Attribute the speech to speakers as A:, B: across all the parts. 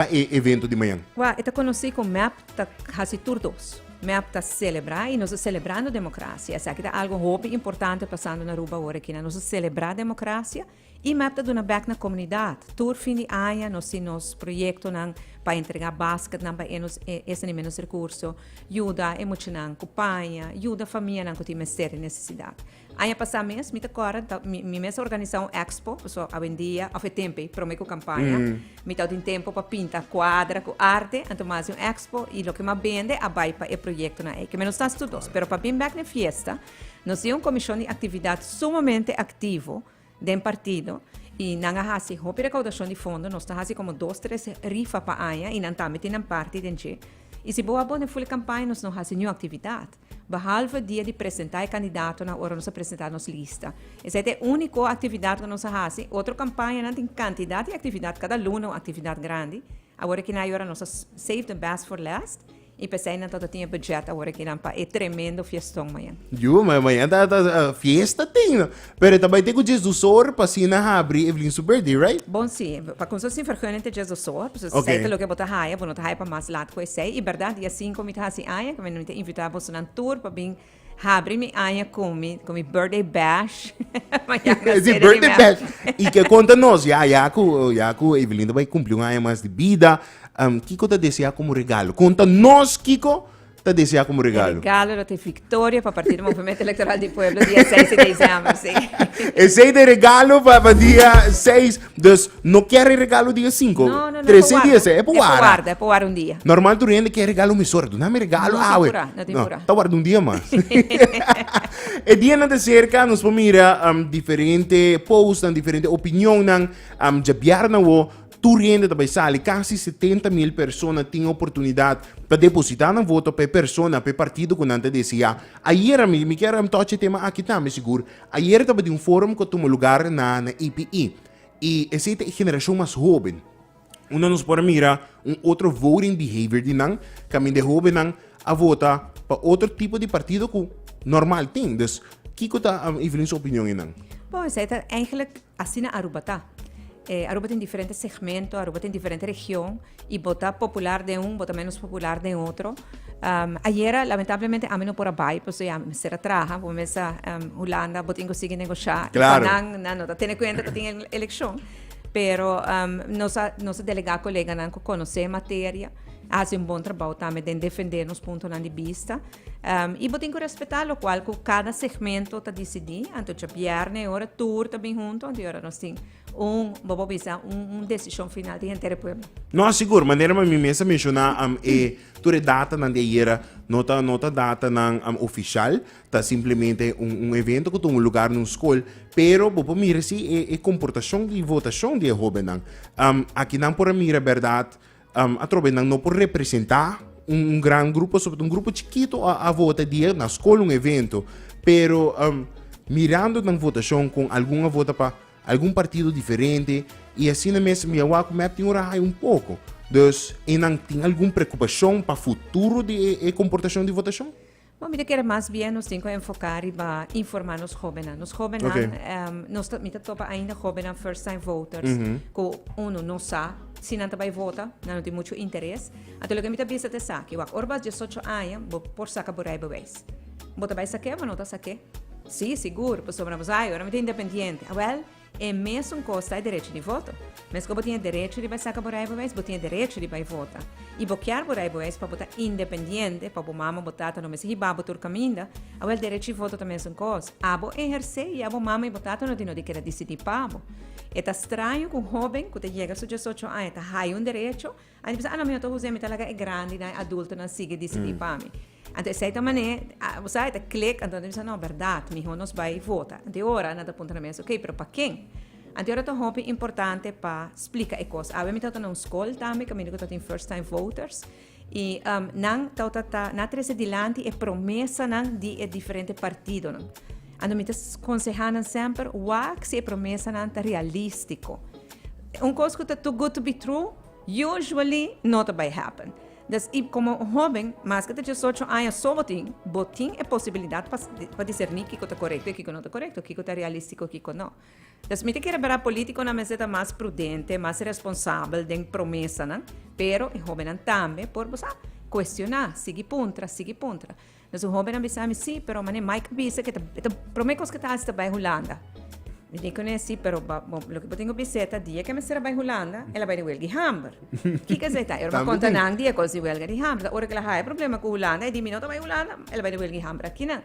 A: ta e evento di mañan? Kua e ta konosí ku mep ta hasi tur dos. Mep ta selebrá i nos ta selebrando demokrasia. Esaki ta algu hopi importante pasando na Aruba ora aki nan. Nos ta selebrá demokrasia i mep ta duna bèk na komunidat. Tur fin di aña nos tin nos proyektonan pa entregá basketnan pa e nos e esnan di ménos rekurso, yuda e muchanan ku paña, yuda famianan ku tin mester i nesesidat. Aña pasá mes, mi ta kòrda, ta, mi, mi mes a organisá un èkspo, pasobra awendia, òf e tempe promé ku kampaña, mi ta tin tempu pa pinta kuadra ku arte, anto mi hasi un èkspo i loke mi a bende a bai pa e proyektonan ei, ke mi a nos ta hasi tur dos. Pero pa bin bèk na e fiesta, nos tin un komishon di aktividat sumamente aktivo den partido i nan a hasi hopi rekaudashon di fondo, nos ta hasi komo dos, tres rifa pa aña i nan tambe tin nan parti den dje. I si bo a bou den ful e kampaña nos no hasi niun aktividat. Behalve dia di presentá e kandidatonan ora nos a presentá nos lista. Esei ta e úniko aktividat ku nos a hasi. Otro kampañanan tin kantidat di aktividat, kada luna un aktividat grandi. Awor aki nan yora nos a save the best for last i p'esei nan tabata tin e bùdjèt awor aki nan pa e tremendo fieston mañan. Yu, mañan ta fiesta tin. Pero e ta bai te ku djes dusor pa si na habri Evelyn su birthday, right? Bon si, pa kunsa sin vergüenna te djes dusor, pues esei Okay. ta loke bo ta haya, bo no ta haya pa mas lat ku esei. I bèrdat dia sinku mi ta hasi aña, ku mi ta invitá bosonan tur pa bin habri mi aña ku mi ku mi birthday bash. Mañana E di sede di birthday mea- bash. I ke konta nos ya ya ku ya ku Evelyn ta bai kumpli un aña mas di bida, em, kiko ta desea komo regalo? Konta nos kiko ta desea como regalo? E regalo lo ta e victoria pa Partido Movement Electoral di Pueblo dia 6 di December, si. Esey ta e regalo pa dia 6, dus no kier e regalo dia 5. No, no, no, e pa warda. E pa warda, e pa warda un dia. Normal tur hende kier regalo mesora, duna mi regalo awe. No tin pura, no tin pura. No, ta warda un dia mas. e dianan ta cerca, nos por mira diferente post, diferente opinionnan, djabiar na bo, Tur hende ta bai sali, kasi setenta mil persona tin oportunidat pa depositá nan voto pa e persona, pa e partido ku nan ta deseá. Ayera, mi mi kier tocha e tema aki tambe, sigur, ayera tabata un forum ku a tuma lugar na na EPE, i esei ta e generashon mas hoben, unda nos por a mira un otro voting behavior di nan, kaminda e hobennan a vota pa otro tipo di partido ku normal tin. Dus, kiko ta Evelyn su opinion ei nan? Bon, esei ta eigenlijk Asina Aruba ta. E Aruba tin diferente segmento, Aruba tin diferente region y bo ta popular den un bo ta menos popular den otro. Ayera lamentablemente ami no por a bai pasobra ya ami mester a traha, bo mester Hulanda bo tin cu sigui negocia y pa nan nan no ta tene cuenta cu tin eleccion pero nos a nos a delega coleganan cu conoce e materia a haci un bon trabao tambe den defender nos puntonan di bista. Um, y bo tin cu respeta locual cu cada segmento ta decidi. Antocha bierne e ora tur ta bin junto, anto ora nos tin un, bobo bisa, un, un decisión final di entere pueblo. No asigur, manera ma mi mesa menciona um, e tur e data nan de ayera no ta, no ta data nan um, oficial, ta simplemente un, un evento cu ta un lugar nun school, pero bobo mira si e, e comportacion di votacion di e hobennan. Um, aki nan por a mira berdad, Um, atrobe nan no por representa un, un gran grupo, sobre un grupo chiquito a, a vota die na school un evento. Pero um, mirando nan votacion con algun a vota pa algun partido diferente y así na mes mi awa ku mep tin ora hay un poco. Dus, e nan tin algun preocupacion pa futuro di e, e comportacion di votacion? Bo mi ta kere mas bien nos tin ku enfoká riba informá nos hóbennan. Nos hóbennan, Ok. em, nos ta, mi ta topa ainda hóbennan first time voters ku unu no sa si nan ta bai vota, nan no tin muchu interes. Anto loke mi ta bisa ta esaki, wak, ora bo a diesocho aña bo por saka bo rijbewijs. Bo ta bai sak'é? Bo no ta sak'é? Sí, sigur, pasobra bo sa, e ora mi ta independiente. Awèl. E mesun kos ta e derechi di voto. Meskos bo tin e derechi riba e saka bo rijbewijs, bo tin e derechi riba e vota. I bo kier bo rijbewijs pa bo ta independiente, pa bo mama, bo tata no mester hiba bo tur kaminda. Awel derechi voto ta mesun kos. Abo ehersé ya bo mama i bo tata no tin no di keda disidí pa bo. E ta straño ku un hóben ku ta yega su diesocho aña ta haya un derecho, Anto e bisa, a no, mi no ta usa, mi ta laga e grandinan, e adultonan sigui disidí pa mi. Anto esei ta manera, a, bo sa, e ta klik, anto nan ta bisa, no, bèrdat, mihó nos bai vota. Anto e ora nan ta puntra nan mes, ok, pero pa ken? Anto e ora ta hopi importante pa splika e kos. Awe mi tabata na un skol tambe, caminda ku tabata tin First Time Voters, i nan tabata ta, nan a trese dilanti e promesanan di e diferente partidonan. Anto mi ta konsehá nan semper, wak si e promesanan ta realístiko. Un kos ku ta too good to be true. Usually no ta bai happen. Dus y como un hoben mas ke ta diesocho aña so bo tin, bo tin e posibilidad pa pa diserni kiko ta corecto y kiko no ta corecto, kiko ta realistico y kiko no. Dus mi ta kere bira politiconan mester ta mas prudente, mas responsabel den promesanan, pero e hobennan tambe por bo sa, cuestiona, sigui puntra, sigui puntra. Nos un hóbennan bisa mi, Sí, pero manera Mike a bisa, e ta promé kos ku e ta hasi ta bai Hulanda. Mi di kuné, Sí, pero ba, bon, loke bo tin ku bisé ta dia ku e mester a bai Hulanda, el a bai di welga di hamber. Kiko esei ta? E orma konta nan di e kos di welga di hamber. Ta ora ku el a haña problema ku Hulanda, e di, Mi no ta bai Hulanda, el a bai di welga di hamber aki nan.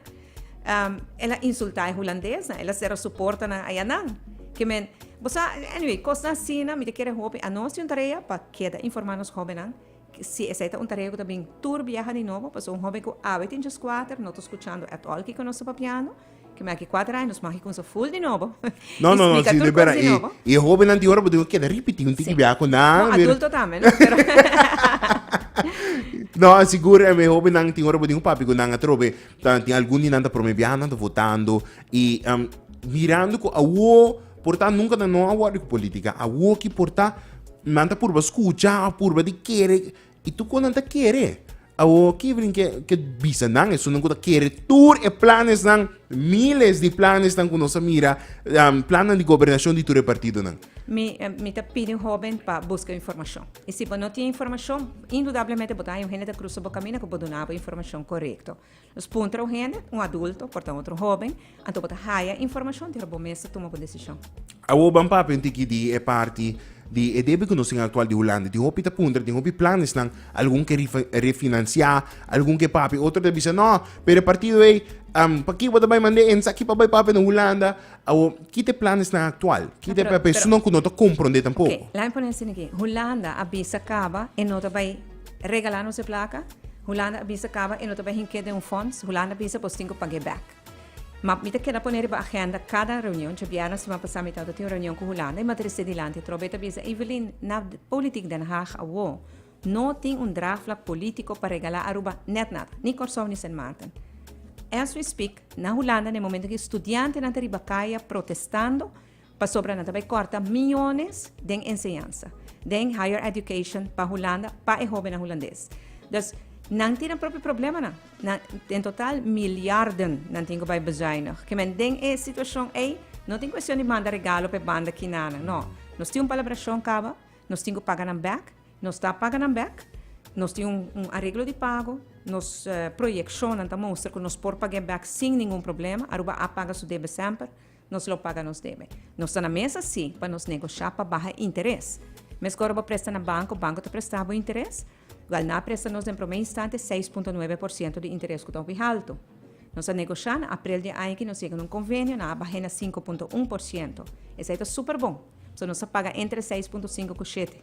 A: El a insultá e hulandesnan, el a sera su portanan ayanan. Ke men, bo sa, anyway, kosnan asina mi ta kere hopi. Anos tin un tarea pa keda informá nos hóbennan. Si, esei ta un tarea ku ta bin tur biaha di nobo, pasobra un hóben ku awe tin djos kuater no ta skuchando at òl kiko nos ta papiando. Kima aki kuater aña nos magi kumsa ful di nobo i splika tur kos di nobo. No, no, no, si, di bera. E hóbennan di ora bo debe keda ripití un tiki biaha kunda. Ku adulto tambe, no? No, sigur e hóbennan tin ora bo tin un papia ku nan atrobe ta tin algun di nan ta promé biaha nan ta votando i mirando ku awó. Por ta nunca ta no awor di cu politica awo ki por ta nan ta purba scucha o purba di kere y tu con nan ta kere awo ki brin ke ke bisa nan esun cu ta kere tur e planes nan miles di planes nan cu nos a mira planan di gobernacion di tur e partido nan. Mi mi ta pidi un hoben pa busca informacion y si bo no tin informacion indudablemente bo ta haña un hende ta crusa bo camina cu bo duna bo informacion corecto. Nos puntra un hende, un adulto, por ta otro hoben, anto bo ta haya informashon di hora bo mes ta tuma bo desishon. Awor ban papia un tiki di e parti di e debe ku nos tin aktual di Hulanda. Tin hopi ta puntra, tin hopi planesnan, algun ke refinansiá, algun ke papia, otro ta bisa no, pero e partido ei, pakiko bo ta bai mand'é esaki pa bai papia na Hulanda? Awor, ki ta e planesnan aktual? Ki ta e papia? Esun no ku no ta komprondé tampoko. Oke, lami pone asina aki, Hulanda a bisa kaba e no ta bai. Regala nos e plaka? Hulanda a bisa kaba e no ta bai hinke den un fonts, Hulanda a bisa bos tin ku pag'é bèk. Ma mi ta keda pone riba agenda kada reunion, dje bièrna siman pasá mi tabata tin un reunion ku Hulanda i mi a trese dilanti trobe i ta bisa, Evelyn, na Politiek Den Haag awo no tin un draagvlak polítiko pa regalá Aruba nèt nada, ni Kòrsou ni Sint Maarten. As we speak, na Hulanda na e momento aki studiantenan ta riba kaya protestando, Pasobra nan ta bai kòrta miónes den enseñansa, den higher education pa Hulanda pa e hóbennan hulandes. Dus nan tin nan propio problemanan. Nan, den total milyarden nan tin ku bai bezuinig. Kimen den e situashon ei no tin kuestion di manda regalo pa e banda kinanan. No. Nos tin un palabrashon kaba, nos tin ku paga nan bèk, nos ta paga nan bèk, nos tin un un areglo di pago, nos proyekshonnan ta mustra ku nos por pag'é bèk sin ningun problema, Aruba a paga su debe semper. Nos lo paga nos debe. Nos ta na mesa sí pa nos negosha pa baha interes. Mescor bo presta na banco, banco ta presta bo interes? Wel, na a presta nos den prome instante seis punto nuebe por ciento di interes cu ta hopi halto. Nos a negosha, na aprel di e aña aki nos yega na un convenio, nan a bah'e na sinku punto un por ciento. Esei ta super bon. So, nos a paga entre seis punto sinku cu shete.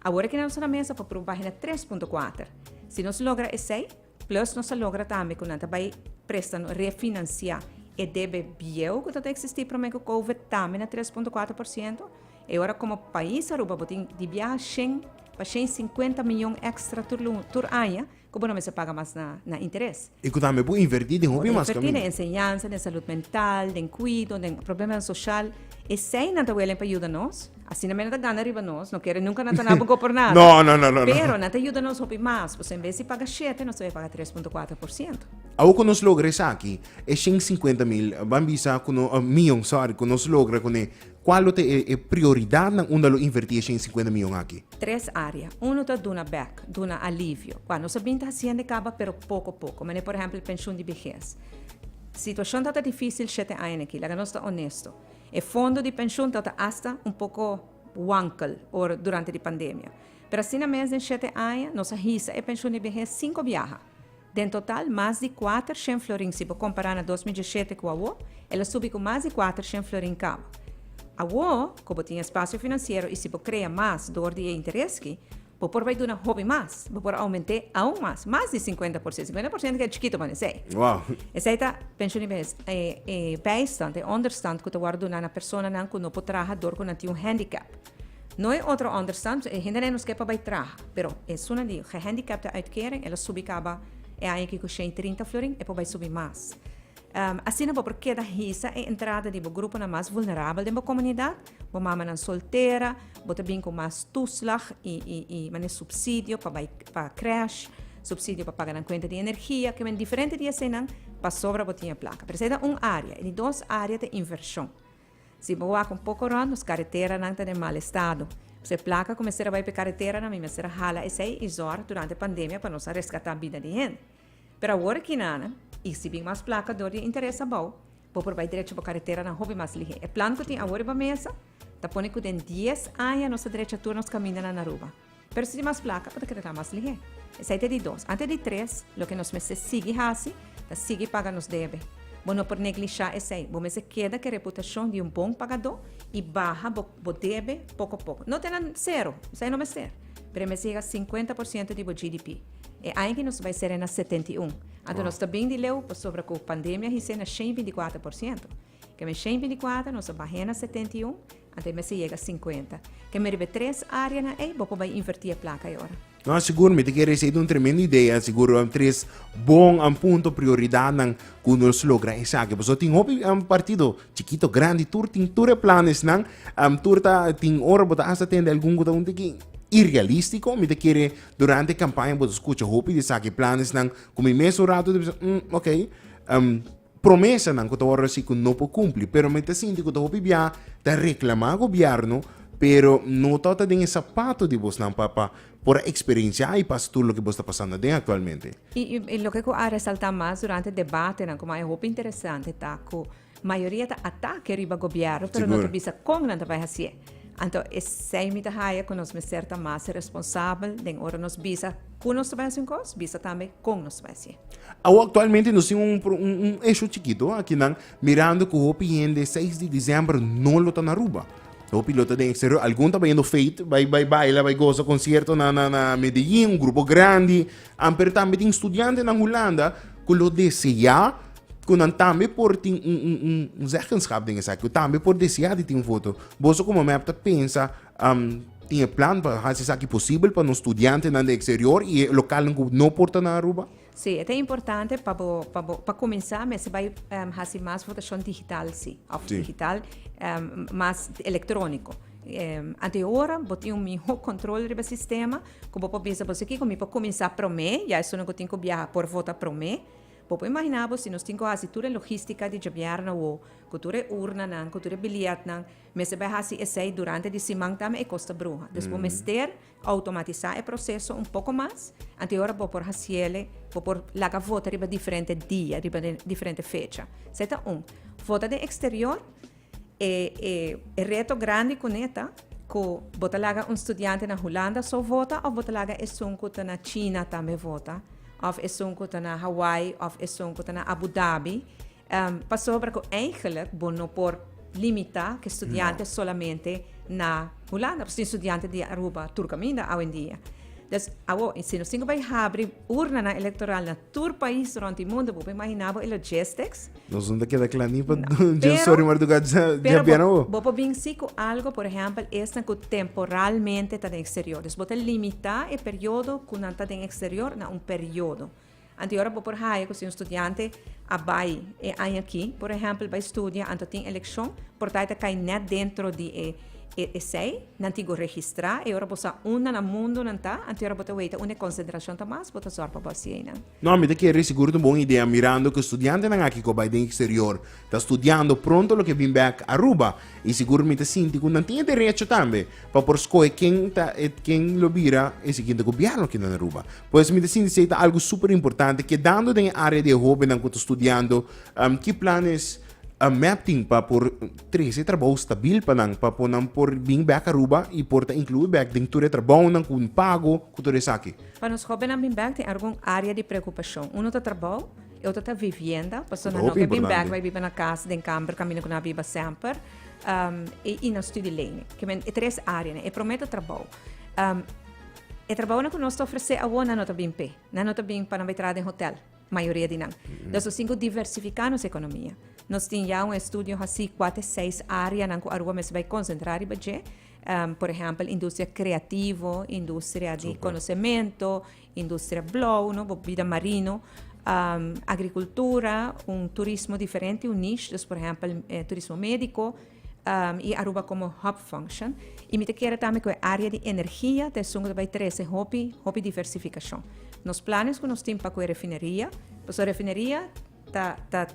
A: Awor aki nan nos ta na mesa pa proba bah'e na tres punto kuater. Si nos logra esei, Plus nos a logra tambe cu nan ta bay presta nos refinancia e debe bieuw cu tabata existi prome cu covid tambe na tres punto cuatro por ciento. E ora como pais Aruba bo tin di biaha shen pa shen y cincuenta miyon extra tur luna, tur aña cu bo no mester paga mas na interes. Y cu tambe bo inverti den hopi mas caminda. Bo ta inverti den enseñansa, den salud mental, den cuido, den. Problemanan social, esey nan ta welen pa yuda nos. Asina me nan ta gana riba nos, no kere nunka nan ta naba go por nada. No, no, no, no, no. Pero nan ta yuda nos hopi mas, pasobra en bes di paga shete, nos ta bay paga tres punto kuater por siento. Awo ku nos logra esaki, e shen sinkuenta mil, ban bisa ku no, mion, sorry, ku nos logra kuné, kual lo ta e e prioridatnan unda lo invertí e shen sinkuenta mion aki? Tres área. Uno ta duna bèk, duna alivio. Kua nos a bin ta hasienda e kaba, pero poko poko. Manera por ehèmpel, e penshun di bihes. Situashon tabata difísil shete aña aki, laga nos ta onesto. E fondo di penshun tabata hasta un poko wankel ora durante di pandemia. Pero asina mes den shete aña nos a hisa e penshun di behes sinku biaha. Den total mas di kuater shen florin si bo kompará na dos mil dieshete ku awo, el a subi ku mas di kuater shen florin kaba. Awo ku bo tin e spasio finansiero i si bo krea mas dor di e interes ki, Bo por bay duna hopi mas. Bo por aument'é aun mas, mas di cincuenta por ciento. Cincuenta por ciento keda chikito pa nesey. Wow. Esey ta pensioen bes, e, e bijstand, e onderstand ku ta wòrdu duna na personanan ku no por traha dor ku nan tin un handicap. No e otro onderstand, e hendenan nos ke pa bay traha, pero esunnan di gehandicapte uitkering el a subi caba e aña aki ku shei trinta florin, e por bay subi mas. Asina bo por keda hisa e entrada di bo gruponan mas vulnerabel den bo komunidat, bo mamanan soltera, bo ta bin ku mas tuslag i manera supsidio pa bai pa krèsh, supsidio pa paga nan kuenta di energia, kimen diferente di eseinan pasobra bo tin e plaka. Pero esei ta un área. E di dos área ta invershon. Si bo wak un poko rònt, nos kareteranan ta den mal estado. P'esei plaka ku mester a bai pa e kareteranan mi mester a hala esei i zòrg durante pandemia pa nos a reskatá bida di hende. Pero awor Kinana, i si bin mas plaka dor di e interes abou, bo por bai drecha bo karetera na hopi mas lihé. E plan ku tin awor riba mesa ta pone ku den dies aña nos ta drecha tur nos kaminda na Naruba. Pero si di mas plaka bo ta kere kla mas lihé. Esei ta di dos. Ante di tres, loke nos mester sigui hasi ta sigui paga nos debe. Bo no por neglishá esei. Bo mester keda ku e reputashon di un bon pagadó i baha bo bo debe pokopoko. No te na sero, esei no mester, pero e mester yega sinkuenta por siento di bo GDP. E aña ki nos bai sera e na setenta i un. Anto nos ta bin di leu pasobra ku pandemia hise na shen binti kuater por siento. Keme shen binti kuater nos a bah'é na setenta i un, anto e mester yega sinkuenta. Keme riba e tres áreanan ei bo por bai invertí e plaka ei ora. No, sigur mi ta kere esei ta un tremendo idea, sigur a tres bon a punto prioridatnan ku nos logra esaki, pasobra tin hopi partido, chikito, grandi, tur tin tur e planesnan, tur ta tin ora bo ta hasta tende algun ku ta un tiki irrealístiko, mi ta kere Durante e kampaña bo ta skucha hopi di esaki planesnan ku mi mes un ratu ta bisa, um, ok, um, promesanan ku ta wòrdu hasi ku no por kumpli. Pero mi ta sinti ku ta hopi bia ta reklamá gobièrnu, pero no ta ota den e sapatu di bosnan pa pa por a eksperensiá i pasa tur loke bos ta pasando aden aktualmente. I loke ku a resaltá mas durante debatenan kuma e hopi interesante ta ku Mayoria ta atake riba gobièrnu pero no ta bisa kon nan ta bai hasié. Anto esei mi ta haja ku nos mester ta mas responsabel den ora nos bisa ku nos ta bai hasi un kos, bisa tambe kon nos ta bai hasié. Awo aktualmente nos tin un un esho chikito aki nan mirando ku hopi hende seis di diciember no lo ta na Aruba. Hopi lo ta den eksterior, algun ta bayendo feit, bai bai baila, bai gosa konsierto na na na Medellin, un grupo grandi, amper tambe tin studiantenan Hulanda ku lo deseá, Ku nan tambe por tin un un un un zeggenschap den esaki, ku tambe por deseá di tin un foto. Boso komo mep ta pensa, tin e plan pa hasi esaki posibel pa nos studiantenan den eksterior i e lokalnan ku no por ta na Aruba? Sí, e ta importante pa bo, pa bo, pa kuminsá mester bai hasi mas votashon digital, sí, òf digital, mas elektróniko. Anto e ora bo tin un mihó kontrol riba sistema, ku bo por bisa boso, kiko mi por kuminsá promé, ya esunnan ku tin ku biaha por vota promé, Bo por imaginá bo si nos tin ku hasi tur e logístika di djabear na Wo, ku tur e urnanan, ku tur e biljètnan, mester bai hasi esei durante di siman ta mi e kos ta bruha. Dus bo mester outomatisá e proseso un poko mas, anteora bo por hasiele, bo por laga vota riba diferente dia, riba diferente fecha. Esei ta un. Vota den eksterior. E e e reto grandi kuné ta ku bo ta laga un studiante na Hulanda so vota òf bo ta laga esun ku ta na China tambe vota òf esun ku ta na Hawaii òf esun ku ta na Abu Dhabi pasobra ku eigenlik bo no por limitá ke studiante solamente na Hulanda pasobra tin studiante di Aruba tur kaminda awendia. Dus awo si nos tin ku bai habri urnanan elektoral na tur pais rònt di mundu bo por imaginá bo e logistics? Nos no ta keda cla ni pa dje sorry mar duga dje bena bo. Bo por bin si cu algo, por ehempel, esnan cu temporalmente ta den exterior. Dus bo ta limita e periodo cu nan ta den exterior na un periodo. Anto e ora bo por haya cu si un studiante a bay e aña aki, por ehempel, bay studia, anto tin eleccion, por ta e ta cay net dentro di e esey, nan tin cu registra. E ora bo sa unda na mundo nan ta, anto e ora bo ta weta unda e concentracion ta mas, bo ta zorg pa bo haci eynan. No, mi ta kere sigur tin bon idea mirando cu studiantenan aki cu bai den exterior ta studiando pronto lo ke bin bek Aruba y sigur mi ta sinti cu nan tin e derecho tambe pa por scohe ken ta e ken lo bira e siguiente gobierno aki nan Aruba. Por eso mi ta sinti si ey ta algo super importante. Kedando den e area di e hobennan cu ta studiando ki planes MEP tin pa por trece e trabou stabil pa nan pa cu nan por bin bek Aruba y por ta inclui bek den tur e trabounan cu pago cu tur esaki? Pa nos hóbennan bin bèk tin argun área di preokupashon. Unu ta trabou, e otro ta vivienda, pasobra nan no ke bin bèk bai biba na kas den kamber kaminda ku nan a biba semper, i nan studi lei. Ke men e tres áreanan. E promé ta trabou. E trabounan ku nos ta ofresé awor nan no ta bin p'e. Nan no ta bin pa nan bai traha den hotèl, mayoria di nan. Entonces nos tin ku diversifiká nos ekonomia. Nos tin ya un estudio hasí kua te seis áreanan ku Aruba mester bai konsentrá riba dje. Por ehèmpel industria kreativo, industria di konosementu, industria blou, no? Bo bida marino, agrikultura, un turismo diferente, un niche, dus por ehèmpel turismo médiko, i Aruba komo hòb function. I mi ta kere tambe ku e área di energia ta esun ku ta bai trese hopi, hopi diversifikashon. Nos planes ku nos tin pa ku e refineria, pasobra refineria. ta ta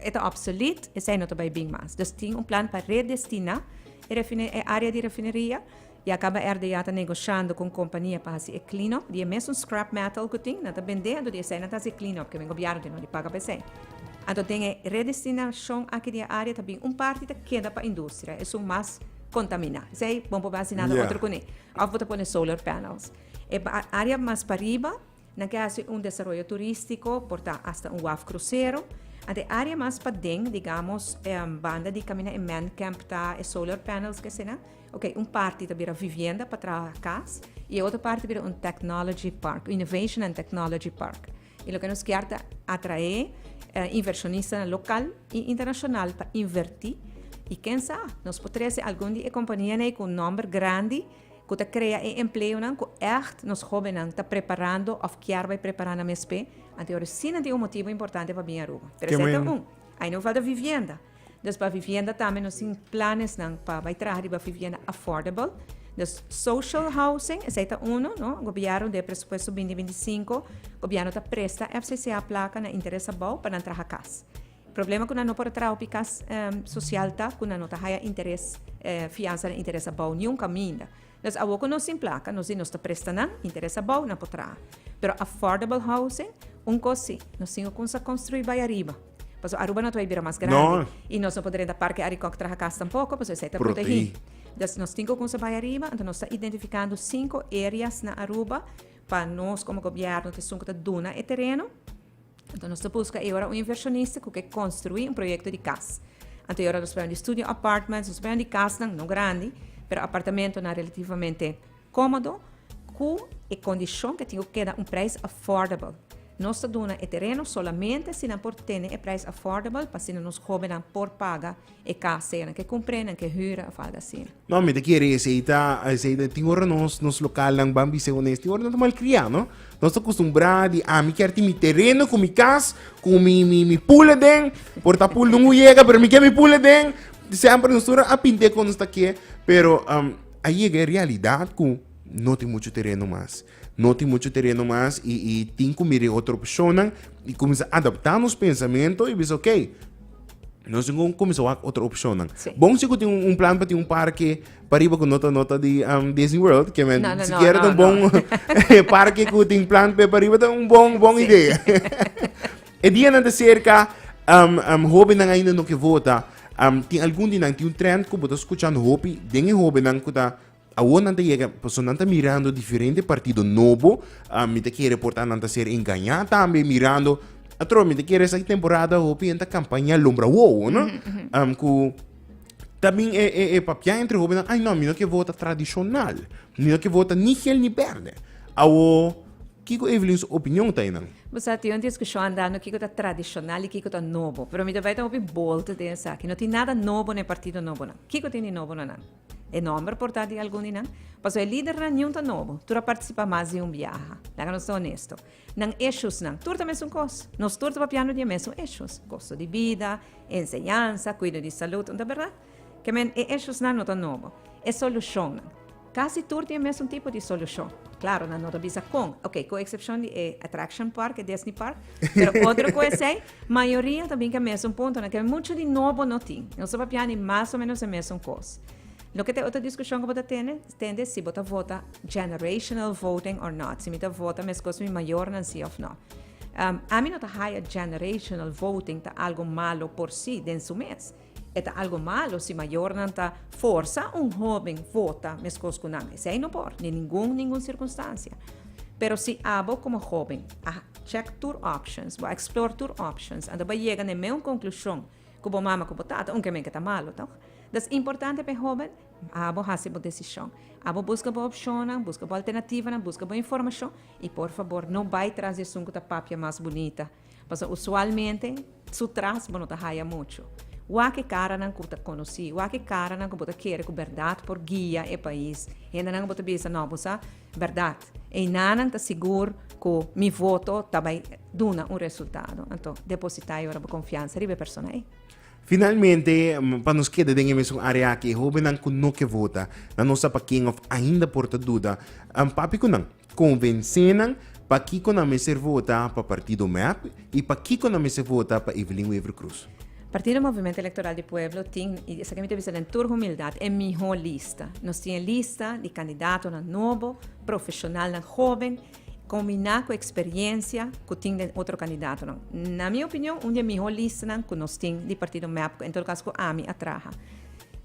A: e ta obsolet esei no ta bai bin mas dus tin un plan pa redestina e refine e area di refineria ya caba RDA ta negociando cu un compania pa haci e clean up di e mesun scrap metal cu tin nan ta bende anto di esei nan ta haci e clean up kimen gobierno tin di paga pa esei anto den e redestinacion aki di e area ta bin un parti ta keda pa industria esun mas contamina esei bon por bai haci nada otro cu ne of bo ta pone solar panels e area mas pariba Nan ke hasi un desaroyo turístiko por ta asta un waf krusero. Ant e área mas paden, digamos, banda di kaminda e mèn kèmp ta, e solar panels ke asina. Oke, un parti ta bira vivienda pa traha kas i e otro parti ta bira un technology park, innovation and technology park. I loke nos kier ta atraé invershonistanan lokal i internashonal pa invertí. I ken sa, nos por trese algun di e kompanianan ei ku un nòmber grandi. Cu ta crea e empleonan cu echt nos hobennan ta preparando of kier bay prepara na msp, anto ora si nan tin un motibo importante pa bin Aruba. Treseta un, Ay no falta vivienda. Dus pa vivienda tambe nos tin planesnan pa bay traha riba vivienda affordable. Dus social housing, esey ta uno, no, Gobierno den e presupuesto binti binti sinku, Gobierno ta presta FCCA placa na interes abao pa nan traha cas. Problema ku nan no por traha opiká sosial ta ku nan no ta haya interes fiansa den interes abou niun kaminda. Dus awor ku nos tin plaka, nos di nos ta presta nan, interes abou nan por traha. Pero affordable housing, un kos si, nos tin ku kumsa konstruí bai ariba. Pasobra Aruba no ta bai bira mas grandi i nos no por drenta parke ari kòk traha kas tampoko pasobra esei ta protegí. Dus nos tin ku kumsa bai ariba, anto nos ta identifikando sinku areas na Aruba pa nos komo gobièrnu ta esun ku ta duna e tereno. Anto nos ta buska e ora un inversionista ku ke konstruí un proyekto di kas. Anto e ora nos prende studio apartments, nos prende kasnan no grandi, pero apartamentonan relativamente kómodo ku e kondishon ke tin ku keda un preis affordable. Nos ta duna e tereno solamente si nan por tene e preis affordable pa asina nos hóbennan por paga E casa e nan ke cumpre, nan ke hura of algo asina. No, mi ta kere esei ta, esei ta, tin ora nos, nos localnan ban bis'e cu nes tin ora nan ta malcria, no? Nos ta custumbra di ami kier tin mi tereno cu mi cas, cu mi, mi, mi pool aden, por ta pool dun uyega, pero mi kier mi pool aden, semper nos tur a pint'e con nos ta ke, pero a yega e realidad cu no tin mucho tereno mas. No tin muchu tereno mas i i tin ku mir'e otro opshonnan i kuminsá adaptá nos pensamentu i bisa okey, nos tin ku kuminsá wak otro opshonnan. Sí. Bon si ku tin un plan pa tin un parke pa riba ku no ta no ta di am Disney World, ke men No, no, sikiera no, ta un no, no. bon parke ku tin plan p'e pariba ta un bon bon Sí. idea. E dianan ta serka, am am hobennan ainda no ke vota. Am tin algun di nan tin un trend ku bo ta skucha hopi den e hobennan ku ta Awor nan ta yega, pasobra nan ta mirando diferente partido nobo, ah, mi ta kere por ta nan ta ser engañá tambe mirando, atrobe mi ta kere esaki temporada hopi hende ta kampaña lombra wowo, no? Am, ku tabien e, e, e papiá entre hobennan, ai no, mi no ke vota tradishonal, mi no ke vota ni hel ni bèrdè. Awor, kiko Evelyn su opinion ta einan? Bo sa, tin un diskushon andando kiko ta tradishonal i kiko ta nobo. Pero mi ta bai ta hopi bolte den esaki. No tin nada nobo na e partido nobonan. Kiko tin di nobo na nan? E nomber por ta di algun di nan. Paso e lidernan niun ta nobo. Tur a participa mas di un biaha. Laga nos ta honesto. Nan eshusnan, tur ta mesun cos. Nos tur ta papiando di e mesun eshus. Costo di bida, enseñansa, cuido di salud, nta berdad? Kemen, e eshusnan no ta nobo. E solucionnan. Casi tur tin e mesun tipo di solucion. Claro, nan no ta bisa con. Ok, cu excepcion di e attraction park, e Disney park. Pero otro cu esey. Mayoria ta bin ku e mesun puntonan, ke muchu di nobo no tin. Nos ta papia di mas o menos e mesun kos. Loke ta e otro diskushon ku bo ta tene? Tende si bo ta vota generational voting or not, si mi ta vota meskos mi mayornan si of no. Ami no ta haya generational voting ta algo malo por si den su mes. E ta algo malo si mayornan ta forsa un hóben vota meskos ku nan. Esei no por, den ningun ningun sirkunstansia. Pero si abo komo hóben a check tur options, bo a explore tur options, anto bo a yega na e meun konklushon ku bo mama ku bo tata, un kemen ke ta malo, tòg? Entonces, es importante pa e hóben abo hasi bo desishon, abo buska bo opshonnan, buska bo alternativanan, buska bo informashon i por fabor no bai tras di esun ku ta papia mas bunita. Pasobra usualmente su tras bo no ta haya mucho. Wak e caranan cu bo ta conoci, wak e caranan cu bo ta kere cu berdad por guia e pais. Hendenan cu bo ta bisa, no, bo sa berdad. Einanan ta sigur cu mi voto ta bay duna un resultado. Anto, deposita e ora bo confiansa riba e persona ey. Finalmente, pa nos keda den e mesun area aki, e hobennan cu no ke vota, nan nos sa pa ken of ainda por ta duda, papi cu nan. Konvensénan pakiko nan mester vota pa partido mep i pakiko nan mester vota pa Evelyn Wever Croes. Partido Movimento Electoral di Pueblo tin, i esaki mi ta bisa den tur humildad, e mihó lista. Nos tin e lista di kandidatonan nobo, profeshonalnan hóben, kombiná ku eksperiencia ku tin den otro kandidatonan. Na mi opinion, un di e mihó listanan ku nos tin di partido mep, ku en tur kas ku ami a traha.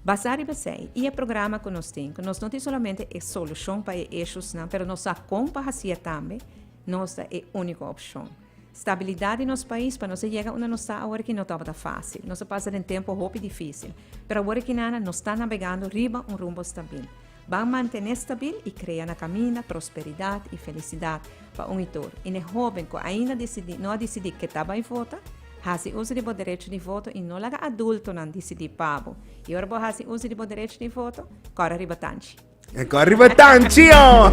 A: Basá riba esei i e programa ku nos tin, ku nos no tin solamente e solushon pa e eshusnan, pero nos sa kon pa hasié tambe, nos ta e úniko opshon. Stabilidat di nos pais pa nos a yega unda nos ta aworakí no tabata fásil. Nos a pasa den tempu hopi difísil, pero aworakinana nos ta nabegando riba un rumbo stabil. Ban mantené stabil i krea na kaminda prosperidat i felisidat pa un i tur. I n'e hóben ku ainda disidí no a disidí ketá bai vota, hasi uso di bo derecho di voto i no laga adultonan disidí pa bo. I ora bo hasi uso di bo derecho di voto, kòre riba tanchi. Kòre riba tanchi, ho!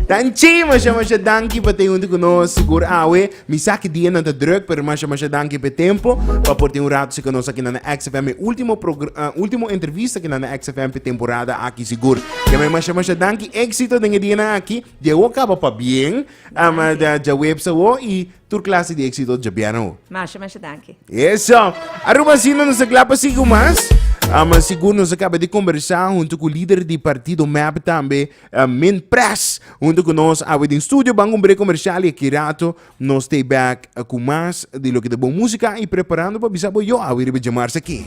A: Tanchi! Masha masha danki pa t'e huntu ku nos, sigur awe. Mi sa ki dianan ta druk, pero masha masha danki pa e tempo pa por tin un ratu si ku nos aki na na XFM. E ultimo progr, ultimo entrevista ki na na XFM pa e temporada aki sigur. Jamai masha masha danki, éksito den e dianan aki. Di awo kaba pa bien, am, dja webs awo i tur klase di éksito dja bièn awo. Masha masha danki. Eso! Aruba asina nos ta kla pa sigui ku mas. Am, sigur nos a kaba di kombersá huntu ku lider di partido mep tambe. Min Press hunto ku nos awe den studio ban un brek komershial i aki rato no stay back ku mas di loke ta bon musika i preparando pa bisa bo yo awe riba Djamarsa aki.